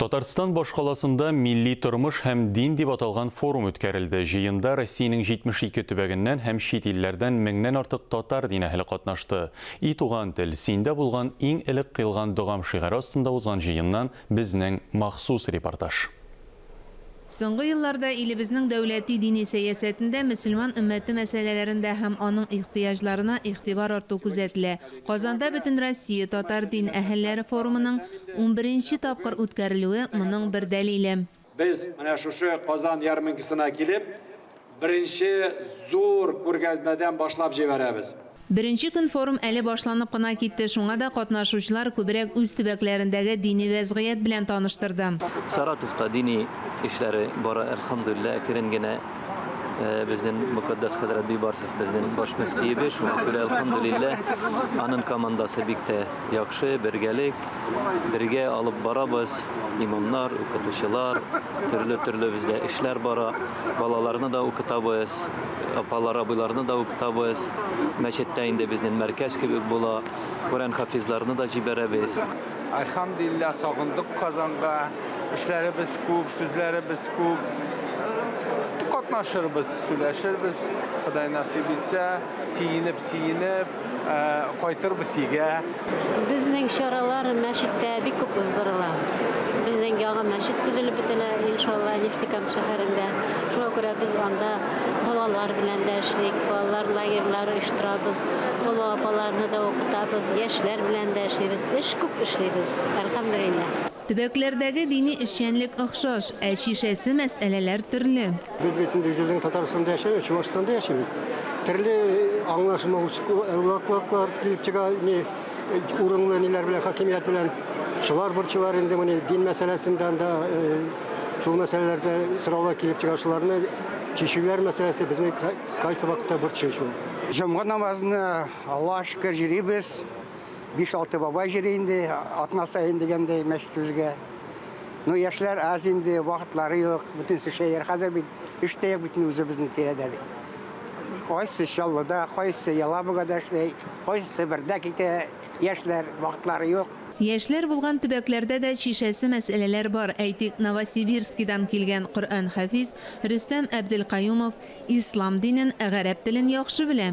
Татарстан башкаласында Милли тормыш һәм дин дип аталган форум үткәрелде. Җыенда Россиянең 72 төбәгеннән һәм чит илләрдән меңнән артык татар дин әһеле катнашты. И туган тел, синдә булган иң элек кыйлган догам шигаре астында узган җыеннан безнең махсус репортаж. Соңгы елларда илебезнең дәүләти дини сәясәтендә мөселман өммәте мәсьәләләрендә һәм аның ихтыяҗларына игътибар арту күзәтелә. Казанда Бөтенроссия татар дин әһелләре форумының унберенче тапкыр үткәрелүе моның бер дәлиле. Без, менә шушы Казан ярминкасына килеп, Беренче зур күргәзмәдән башлап җибәрәбез. Беренче көн форум әле башланып кына китте, шуңа да катнашучылар күбрәк үз төбәкләрендәге дини вәзгыять белән таныштырды. Саратовта дини эшләре бара, әлхәмдүлилләһ, әкрен генә. Безнең мөкатдәс хәзрәт Бибарсов безнең баш мөфтиебез, шуңа күрә, әлхәмдүлилләһ, аның командасы бик тә яхшы, бергәлек, бергә алып барабыз, имамнар, укытучылар, төрле-төрле бездә эшләр бара. Балаларны да укытабыз, апалар, абыйларны да укытабыз. Мәчеттә инде безнең мәркәз кебек була. Коръән хафизларны да җибәрәбез. Альхамдулилла, сагындык Казанга. Эшләребез күп, сүзләребез күп. Катнашырбыз, сөйләшербез, Ходай насыйп итсә. Сөенеп, сөенеп, ә, кайтырбыз өйгә. Безнең чаралар мәчеттә бик күп уздырыла. Безнең яңа мәчет төзелеп бетелә, иншалла, Нефтекамск шәһәрендә. Шуңа күрә без анда балалар белән дә эшлик, балалар лагерьлары оештырабыз, олы апаларны да укытабыз, яшьләр белән дә эшлибез. Эш күп эшлибез, әлхәмдүлилләһ. Төбәкләрдәге дини эшчәнлек охшаш, ә чишәсе мәсьәләләр төрле. Без бит инде йөз елдан Татарстанда яшәмибез, Чувашстанда яшибез. Төрле аңлашылмаучаклыклар килеп чыга, ни урынлы ниләр белән, хакимият белән. Шулар борчыйлар инде моны, дин мәсьәләсендә анда шул мәсьәләләрдә сораулар килеп чыга, шуларны чишүләр мәсьәләсе безне кайсы вакытта борчый шул. Җомга намазына Аллага шөкер йөрибез. 5-6 бабай җыри инде, атна саен дигәндәй мәчетебезгә. Ну, яшьләр аз инде, вакытлары юк, бөтен шәер хәзер бит, эш тә юк бит үзебезнең тирәдә. Кайсы Чаллыда, кайсы Ялабугада эшли, кайсы Себердә китә яшьләр, вакытлары юк. Яшьләр булган төбәкләрдә дә шешәсе мәсьәләләр бар, әйтик, Новосибирскидан килгән Коръән хафиз Рөстәм Әбделкаюмов ислам динен, гарәп телен яхшы белә.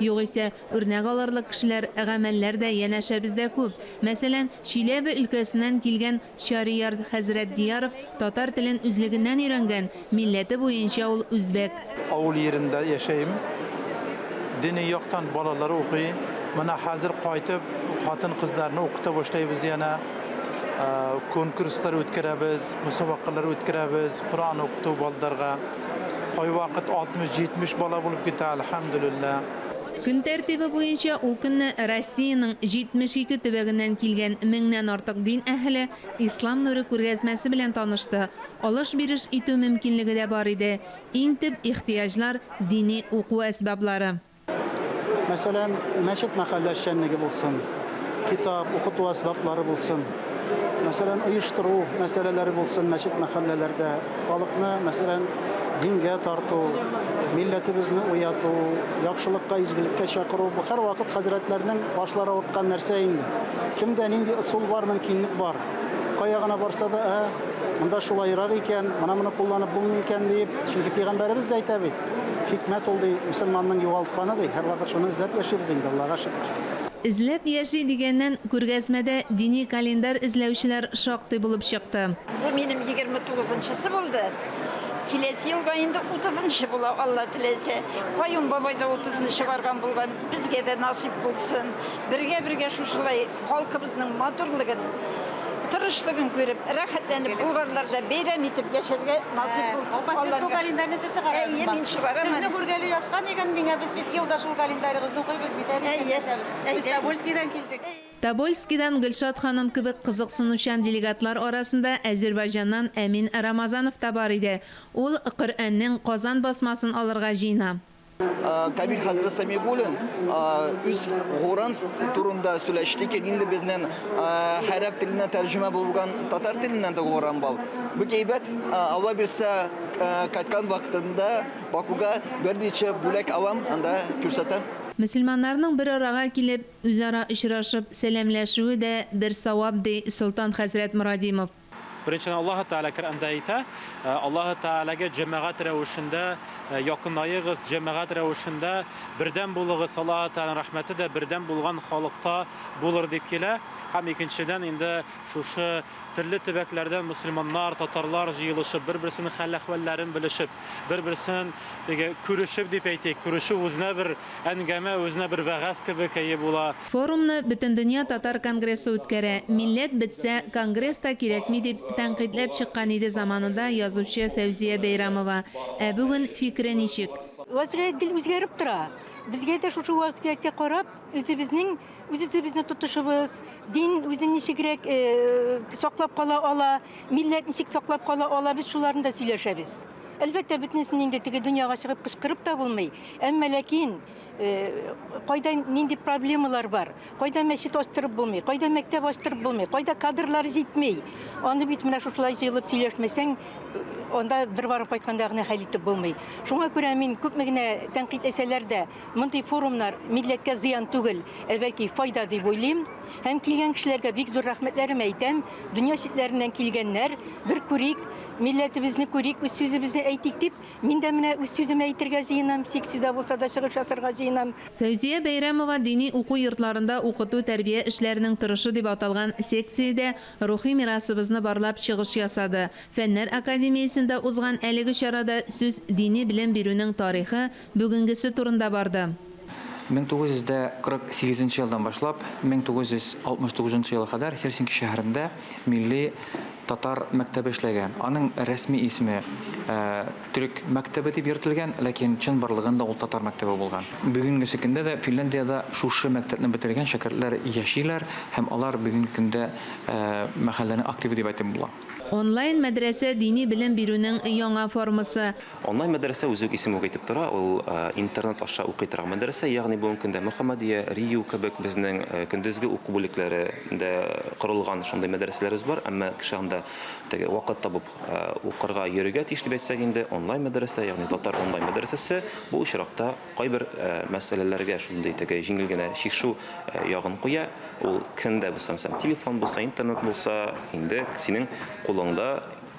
Югыйсә, үрнәк алырлык кешеләр, гамәлләр дә янәшә бездә күп. Мәсәлән, Чиләбе өлкәсеннән килгән Чариярд хәзрәт Дияров татар телен үзлегеннән өйрәнгән, милләте буенча ул үзбәк. Авыл йирендә яшәйм. Дини яктан балалар укый. Менә хәзер кайтып, хатын-кызларны укыта башлыйбыз янә. Конкурслар үткәрәбез, мосабакалар үткәрәбез, Коръән укыту балаларга. Кайвакыт 60-70 бала булып китә, әлхәмдүлилләһ. Көн тәртибе буенча ул көнне Россиянең 72 төбәгеннән килгән меңнән артык дин әһеле Ислам нуры күргәзмәсе белән танышты. Алыш-биреш итү мөмкинлеге дә бар иде. Иң төп ихтыяҗлар, дини уку әсбаблары. Мәсәлән, мәчет мәхәллә эшчәнлеге булсын, китап, укыту әсбаплары булсын, мәсәлән, оештыру мәсьәләләре булсын мәчет мәхәлләләрдә, халыкны, мәсәлән, дингә тарту, милләтебезне уяту, яхшылыкка, изгелеккә чакыру, бу һәрвакыт хәзрәтләрнең башлары авырткан нәрсә инде. Кемдә нинди ысул бар, мөмкинлек бар, кая гына барса да, ә, монда шулаерак икән, менә моны кулланып булмый икән, диеп, чөнки Пәйгамбәребез дә әйтә бит. Хикмәт ул, ди, мөселманның югалтканы, ди. Һәрвакыт шуны эзләп яшибез инде, Аллага шөкер. Эзләп яши дигәннән, күргәзмәдә дини календарь эзләүчеләр шактый булып чыкты. Бу минем егерме тугызынчысы булды. Киләсе елга инде утызынчы була, Алла теләсә. Каюм бабай да утызынчы барган булган. Безгә дә насыйп булсын. Бергә-бергә шушылай. Халкыбызның матурлыгын, тырышлыгын күреп, рәхәтләнеп, болгарлар да бәйрәм итеп яшәргә насыйп булсын. Апа, сез бу календарьны сез чыгарадызмы? Әйе, мин чыгарам. Сезне күргәли яска дигән миңа, без бит елда шул календарьгызны укыйбыз бит, әле исән яшәбез. Без Тобольскидан килдек. Тобольскидан Гөлшат ханым кебек кызыксынучан делегатлар арасында Әзербайҗаннан Әмин Рамазанов та бар иде. Ул Коръәннең Казан басмасын алырга җыена. Кабир хәзрәт Самигуллин үз горан турында сөйләште ки, инде безнең хәрәп теленә тәрҗемә булган татар теленнән дә горан бал. Бу әйбәт ава бирсә кайткан вакытында Бакуга берничә бүләк алам, анда күрсәтәм. Мөселманнарның бер арага килеп, үзара очрашып, сәламләшүе дә бер савап, ди Солтан хәзрәт Морадимов. Беренчедән, Аллаһы Тәгалә Коръәндә әйтә, э, Аллаһы Тәгаләгә җәмәгать рәвешендә э, якынаегыз, җәмәгать рәвешендә бердәм булыгыз, Аллаһы Тәгаләнең рәхмәте дә бердәм булган халыкта булыр дип килә. Һәм икенчедән, инде шушы төрле төбәкләрдән мөселманнар, татарлар җыелышып, бер-берсенең хәл-әхвәлләрен белешеп, бер-берсен теге күрешеп дип әйтик, күрешү үзенә бер әңгәмә, үзенә бер вәгазь кебек әйе була. Форумны Бөтендөнья татар конгрессы үткәрә, милләт бетсә, конгресс та кирәкми дип тәнкыйтьләп чыккан иде заманында язучы Фәүзия Бәйрәмова. Ә бүген фикере ничек? Вазгыять гел үзгәреп тора. Безгә дә шушы вазгыятькә карап, үзебезнең үз-үзебезне тотышыбыз, дин үзен ничегрәк саклап кала ала, милләт ничек саклап кала ала, без шуларны да сөйләшәбез. Әлбәттә, бөтенесен инде теге дөньяга чыгып кычкырып та булмый, әмма ләкин, Э, кайда нинди проблемалар бар кайда мәчет ачтырып булмый кайда мәктәп ачтырып булмый кайда кадрлар җитмей аны бит менә шушылай җыелып сөйләшмәсәң э, анда бер барып кайтканда гына хәл итеп булмый шуңа күрә мин күпме генә тәнкыйть әсәләр дә мондый форумнар милләткә зыян түгел ә бәлки файда дип уйлыйм һәм килгән кешеләргә бик зур рәхмәтләрем әйтәм дөнья читләреннән килгәннәр бер күрик милләтебезне күрик үз сүзебезне әйтик дип Мин дә менә үз сүземне әйтергә җыенам, сикси дә булса да чыгыш ясарга җыенам. Фәүзия Бәйрәмова дини уку йортларында укыту-тәрбия эшләренең торышы дип аталган секциядә рухи мирасыбызны барлап чыгыш ясады. Фәннәр академиясендә узган әлеге чарада сүз дини белем бирүнең тарихы, бүгенгесе турында барды. 1948 нче елдан башлап 1969 нчы елга кадәр Хельсинки шәһәрендә милли татар мәктәбе эшләгән. Аның рәсми исеме төрек мәктәбе дип йөртелгән, ләкин чын барлыгында ул татар мәктәбе булган. Бүгенгесе көндә дә Финляндиядә шушы мәктәпне бетергән шәкертләр яшиләр һәм алар бүгенге көндә мәхәлләнең активы дип әйтеп була. Онлайн-мәдрәсә дини белем бирүнең яңа формасы. Онлайн мәдрәсә үзе үк исеме үк әйтеп тора, ул интернет аша укый торган мәдрәсә, ягъни бүгенге көндә Мөхәммәдия, Рию кебек безнең көндезге уку бүлекләре дә корылган шундый мәдрәсәләребез бар, әмма кеше анда теге вакыт табып укырга йөрергә тиеш дип әйтсәк инде, онлайн мәдрәсә, ягъни татар онлайн мәдрәсәсе бу очракта кайбер мәсьәләләргә шундый теге җиңел генә чишү ягын куя, ул кемдә булса, телефон булса, интернет булса, инде синең кулыңда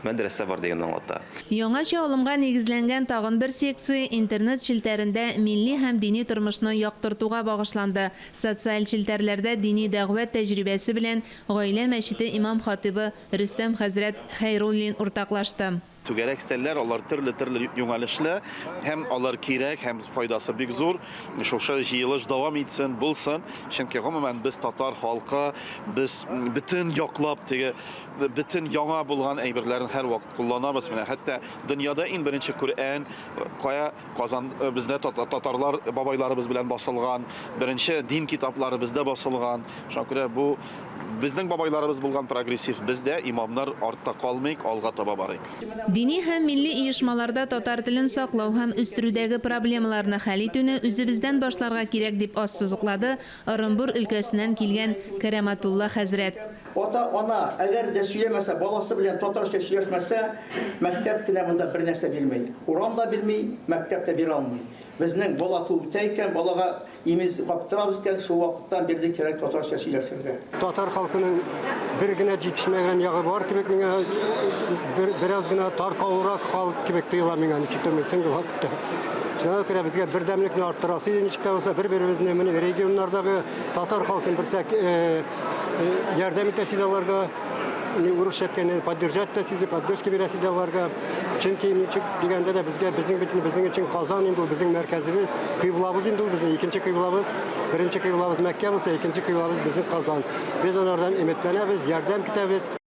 Мәдрәсә бар дигәнне аңлата. Яңача алымга нигезләнгән тагын бер секция интернет челтәрендә милли һәм дини тормышны яктыртуга багышланды. Социаль челтәрләрдә дини дәгъвә тәҗрибәсе белән Гаилә мәчете имам-хатыйбы Рөстәм хәзрәт Хәйруллин уртаклашты. Түгәрәк өстәлләр, алар төрле-төрле юнәлешле һәм алар кирәк һәм файдасы бик зур. Шушы җыелыш дәвам итсен, булсын. Чөнки, гомумән, без татар халкы, без бөтен яклап теге, бөтен яңа булган әйберләрен һәрвакыт кулланабыз. Менә хәтта дөньяда иң беренче Коръән кая Казан э, бездә татарлар бабайларыбыз белән басылган, беренче дин китаплары бездә басылган. Шуңа күрә бу безнең бабайларыбыз булган прогрессив, бездә имамнар артта калмыйк, алга таба барыйк. Дини һәм милли оешмаларда татар телен саклау һәм үстерүдәге проблемаларны хәл итүне үзебездән башларга кирәк, дип ассызыклады Ырынбур өлкәсеннән килгән Кәрамәтулла хәзрәт. Ата-ана, әгәр дә сөйләмәсә, баласы белән татарча сөйләшмәсә, мәктәп кенә монда бернәрсә бирми. Урам да бирми, мәктәп тә бирә алмый. Безнең бала күктә икән, балага имез каптырабыз икән, шул вакыттан бирле кирәк татарча сөйләшергә. Татар халкының бер генә җитешмәгән ягы бар кебек миңа, бераз гына таркаулырак халык кебек тоела миңа, ничектер, мин соңгы вакытта. Шуңа күрә безгә бердәмлекне арттырасы иде ничек тә булса бер-беребезне менә регионнардагы татар халкын берсәк ярдәм итәсе дә аларга урысча әйткәндә поддержать итәсе иде, поддержка бирәсе дә аларга. Чөнки ничек дигәндә дә безгә безнең бит безнең өчен Казан инде ул безнең мәркәзебез, кыйблабыз инде ул безнең икенче кыйблабыз, беренче кыйблабыз Мәккә булса, икенче кыйблабыз безнең Казан. Без алардан өметләнәбез, ярдәм көтәбез.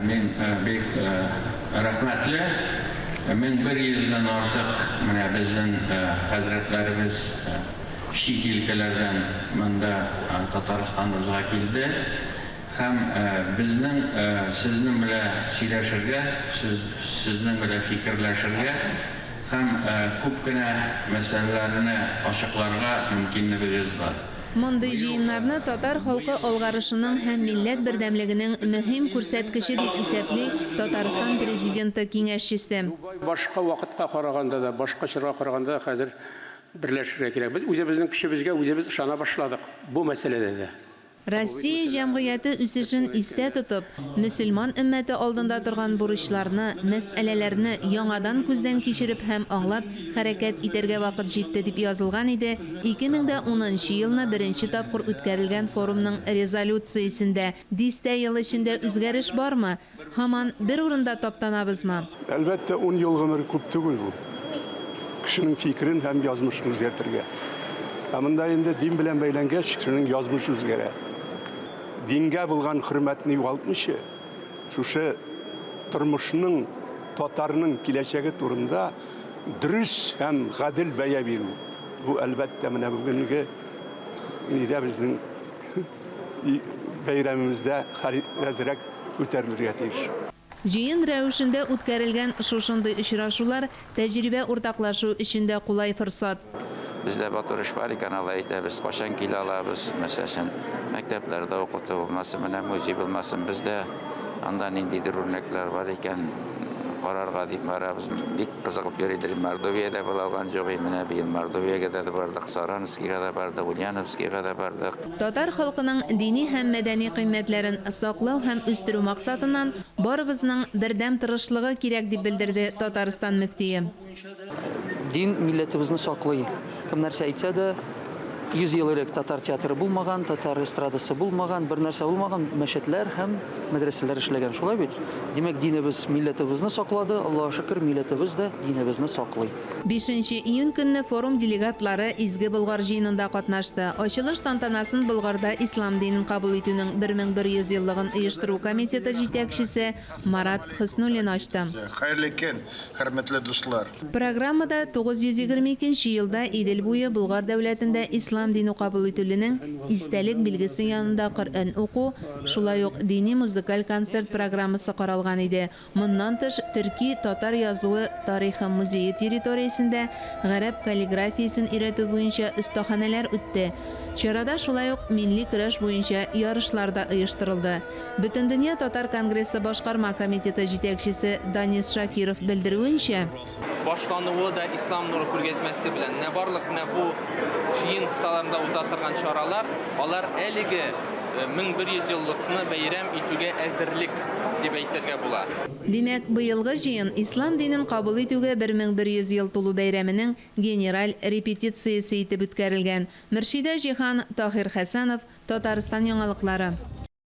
Мин бик рәхмәтле, 1100 дән артык менә безнең хәзрәтләребез чит илкәләрдән монда Татарстаныбызга килде һәм безнең сезнең белә сөйләшергә, сезнең белә фикерләшергә һәм күп кенә мәсьәләләрне ачыкларга мөмкинлебегез бар. Мондый җыеннарны татар халкы алгарышының һәм милләт бердәмлегенең мөһим күрсәткече, дип исәпли Татарстан Президенты киңәшчесе. Башка вакытка караганда да, башка чорга караганда да хәзер берләшергә кирәк. Без үзебезнең көчебезгә үзебез ышана башладык бу мәсьәләдә дә. Россия җәмгыяте үсешен истә тотып, мөселман өммәте алдында торган бурычларны, мәсьәләләрне яңадан күздән кичереп һәм аңлап, Хәрәкәт итәргә вакыт җитте, дип язылган иде 2010 нчы елны беренче тапкыр үткәрелгән форумның резолюциясендә. Дистә ел эчендә үзгәреш бармы? Һаман бер урында таптанабызмы? Әлбәттә, ун ел гомер күп түгел бу, кешенең фикерен һәм язмышын үзгәртергә. Ә монда инде дин белән бәйләнгәч, кешенең язмышы үзгәрә. Дингә булган хөрмәтне югалтмыйча, шушы тормышның, татарның киләчәге турында. дөрес һәм гадел бәя бирү. Бу, әлбәттә, менә бүгенге нидә безнең бәйрәмебездә хәрәзрәк күтәрелергә тиеш. Җыен рәвешендә үткәрелгән шушындый очрашулар тәҗрибә уртаклашу өчен дә кулай форсат. Бездә матур эш бар икән, алай әйтәбез. Кайчан килә алабыз, мәсәл өчен, мәктәпләрдә укыту булмасын, менә музей булмасын, бездә анда ниндидер үрнәкләр бар икән, карарга дип барабыз. Бик кызыгып йөридер. Мордовиядә була алган җогый, менә быел Мордовиягә дә бардык, Саранскига да бардык, Ульяновскига да бардык. Татар халкының дини һәм мәдәни кыйммәтләрен саклау һәм үстерү максатыннан барыбызның бердәм тырышлыгы кирәк, дип белдерде Татарстан мөфтие. Дин милләтебезне саклый. Кем нәрсә әйтсә дә, 100 ел элек татар театры булмаган, татар эстрадасы булмаган, бер нәрсә булмаган, мәчетләр һәм мәдрәсәләр эшләгән. Шулай бит? Димәк, динебез милләтебезне саклады, Аллага шөкер, милләтебез дә динебезне саклый. Бишенче июнь көнне форум делегатлары Изге Болгар җыенында катнашты. Ачылыш тантанасын Болгарда ислам динен кабул итүнең 1100 еллыгын оештыру комитеты җитәкчесе Марат Хөснуллин ачты. Хәерле көн, хөрмәтле дуслар! Программада 922 нче елда Идел буе Болгар дәүләтендә ислам дине кабул ителүнең истәлек билгесе янында Коръән уку, шулай ук дини-музыкаль концерт программасы каралган иде. Моннан тыш, төрки, татар язуы тарихы музее территориясендә гарәп каллиграфиясен өйрәтү буенча остаханәләр үтте. Чарада шулай ук милли көрәш буенча ярышлар да оештырылды. Бөтендөнья татар конгрессы башкарма комитеты җитәкчесе Данис Шакиров белдерүенчә, Башлануы да Ислам нуры күргәзмәсе белән. Менә барлык менә бу җыен кысаларында уза торган чаралар, алар әлеге 1100 еллыкны бәйрәм итүгә әзерлек дип әйтергә була. Димәк, быелгы җыен Ислам динен кабул итүгә 1100 ел тулу бәйрәменең генераль репетициясе итеп үткәрелгән. Мөршидә Җиһан, Таһир Хәсәнов, Татарстан яңалыклары.